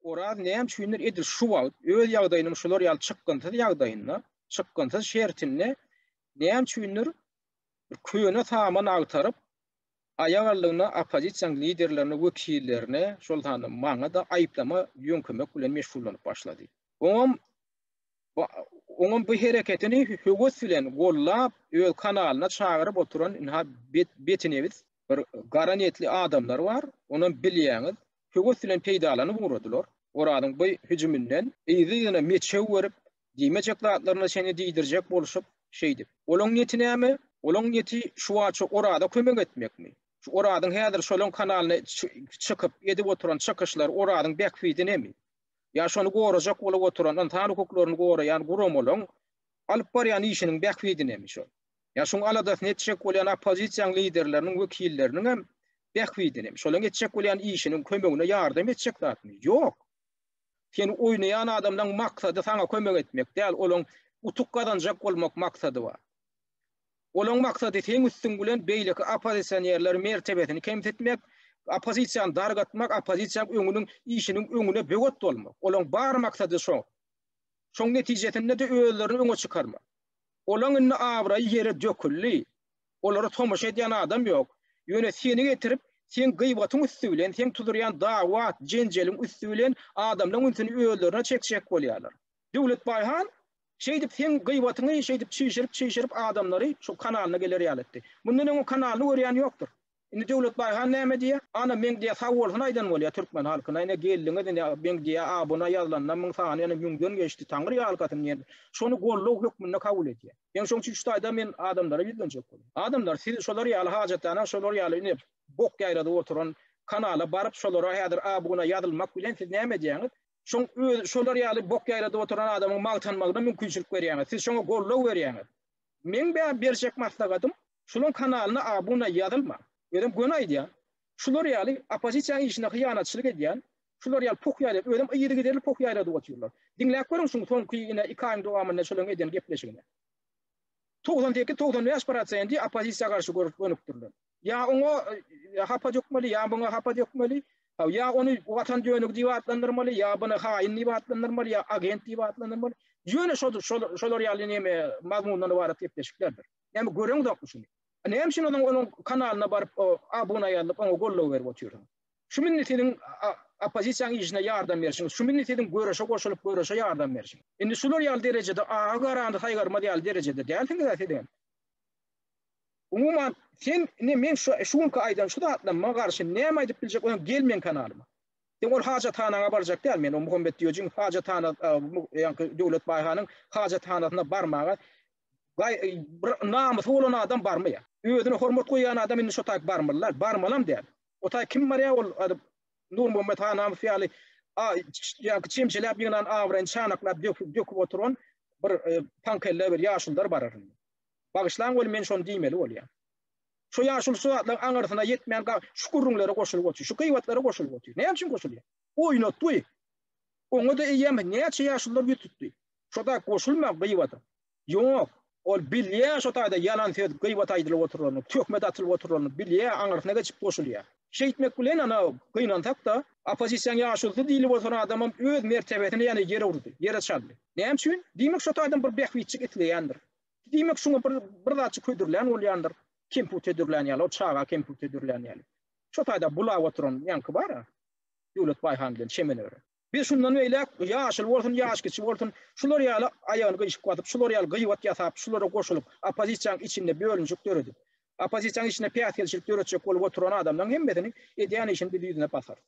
Oraz näme üçindir edil şu wagt öz ýagdaýynyň şular ýaly çykgynsyz ýagdaýynda, çykgynsyz şertinde näme üçindir bir köne saman agtaryp, aýagaldygyna oppozisiýanyň liderlerine, wekillerine, şol sanda maňa-da aýyplama ýöňkemek bilen meşgullanyp başlady. Oňam oňam bu hereketini höwes bilen gollap, öz kanalyna çagyryp oturan ynha betnebis bir gara niýetli adamlar bar, onam bilýäňiz, höwes bilen peýdalanyp ugradylar. Orazyň bu hüjüminden yzly-yzyna meçew berip, diýmejek zatlaryna çenli diýdirjek bolşup, şeýdip. Olaň niýeti näme? Olaň niýeti şuwaça Oraza kömek etmekmi? Şu Orazyň häzir şolaň kanalyna çykyp, edip oturan çykyşlary Orazyň bähbidinemi? Ýa şony gorajak bolup oturan, ynsan hukuklaryny goraýan guramalaryň alyp barýan işiniň bähbidinemi şol? Ýa şuň aladasyny etjek bolýan oppozisiýaň liderleriniň wekilleriniň hem bähbidini, şolaň etjek bolýan işiniň kömegine ýardam etjek zadymy? Ýok. Sen oýnaýan adamlaň maksady saňa kömek etmek däl, olaň utuk gazanjak bolmak maksady bar. Olaň maksady seň üstüň bilen beýleki oppozisionerleriň mertebesini kemsitmek, oppozisiýany dargatmak, oppozisiýaň öňüniň işiniň öňüne böwet bolmak. Olaň bar maksady şo. Şoň netijesinde-de özlerini öňe çykarmak. Olaň indi abraýy ýere döküldi. Olara tomaşa edýän adam ýok. Ýöne seni getirip, seň gyýbatyň üsti bilen, seň tudurýan dawat, jenjeliň üsti bilen adamlaň ünsüni özlerine çekjek bolýarlar. Döwletbaý han şeýdip seň gyýbatyňy şeýdip çişirip-çişirip adamlary şu kanalyna geler ýaly etdi. Mundan öň o kanalyny görýän ýokdur. Indi Döwletbaý han näme diýýär? Ana, meň diýýär, sag bolsun aýdan bolýar türkmen halkyna. Ine, geldiňiz, ine, meň diýýär, abuna ýazylanda müň sany ýene müňden geçdi, Taňry ýalkasyn diýen. Şony goldaw hökmünde kabul edýär. Ine, şonuň üçin şu taýdan men adamlara ýüzlenjek bolýan. Adamlar, siz şolar ýaly hajathana, şolar ýaly ine, bok ýaýradyp oturan kanala baryp, şolara häzir abuna ýazylmak bilen siz näme edýäňiz? Şoň özi, şolar ýaly bok ýaýradyp oturan adamyň magtanmagyna mümkinçilik berýäňiz. Siz şoňa goldaw berýäňiz. Meň bä berjek maslahatym, Şulaň kanalyna abuna ýazylma. Özem göni aýdýan. Şular ýaly opozisiýaň işine hyýanatçylyk edýän şular ýaly poh ýaýlap özem yzygiderli poh ýaýradyp otyrlar. Diňläp görüň şuň soňky ine iki aýyň dowamynda şulaň edýän gepleşigini. Togsan sekiz togsan bäş prosendi opozisiýa garşy görüp gönükdirler. Ýa oňa hapa dökmeli ýa buňa hapa dökmeli. Haw ýa ony watan dönügi diýip atlandyrmaly ýa buny haýyn diýip atlandyrmaly ýa agent diýip atlandyrmaly. Ýöne şodur şolar ýaly neme mazmundan ybarat gepleşiklerdir. Näme göreňzokmy şuny? Näme üçin onuň onuň kanalyna baryp o abuna ýazylyp oňa goldaw berip otyryň? Şu mindi siziň oppozisiýaň işine ýardam berişiňiz, şu mindi siziň göreşe goşulyp göreşe ýardam berişiň. Indi şular ýaly derejede aga garany saýgarmaz ýaly derejede dälsiňizä sizem. Umuman sen indi men şu şu günki aýdan şu zatlaryma garşy näme aýdyp biljek oýan gel meň kanalyma. Sen ol hajathanaňa barjak däl men o Muhammet Diýojiň hajathana ýaňky Döwlet Baýhanyň hajathanasyna barmaga Gaý, bir namysy bolan adam barmy ýa? Özüne hormat goýýan adam indi şo taýy barmyla? Barmalam däl. O taý kim barýa ol adyp Nurmuhammet han namys ýaly a ýaňky çemçeläp ýygnan abraýyny çanaklap döküp döküp oturan bir e, paňkelle bir ýaşuldar barar. Bagyşlaň ol men şony diýmeli bolýar. Şu ýaşul şu zatlaryň aňyrsyna ýetmän şu gurrunlara goşulyp otyr. Şu gyýbatlara goşulyp otyr. Näme üçin goşulýar? Oýnatdy. Oňa da eýýäm näçe ýaşullar ýütüpdi. Şoda goşulma gybata. Ýok, ol bilýä şo taýda ýalan söz gybat aýdylyp oturanyny, töhmet atylyp oturanyny bilýä, aňyrsyna geçip goşulýa. Şeýtmek bilen ana gynansak-da, oppozisiýaň ýaşulusy diýlip oturan adamam öz mertebesini ýene ýere urdy, ýere çaldy. Näme üçin? Diýmek şo taýdan bir bähbitjik isleýändir. Diýmek şuňa bir bir zatjy ködürlän bolýandyr, kemput edürlän ýaly, ol çaga kemput edürlän ýaly. Şo taýda bulap oturan ýaňky bar-a, Döwlet Baýhan bilen çemeni örän. Biz şundan beýläk, ýaşuly bolsun, ýaşkiçi bolsun, şular ýaly aýagyny gyýşyk basyp, şular ýaly gyýbat ýasap, şulara goşulyp, oppozisiýanyň içinde bölünişik döredip, oppozisiýanyň içinde päsgelçilik döretjek bolup oturan adamlaryň hemmesini edýän işini biz ýüzüne basarys.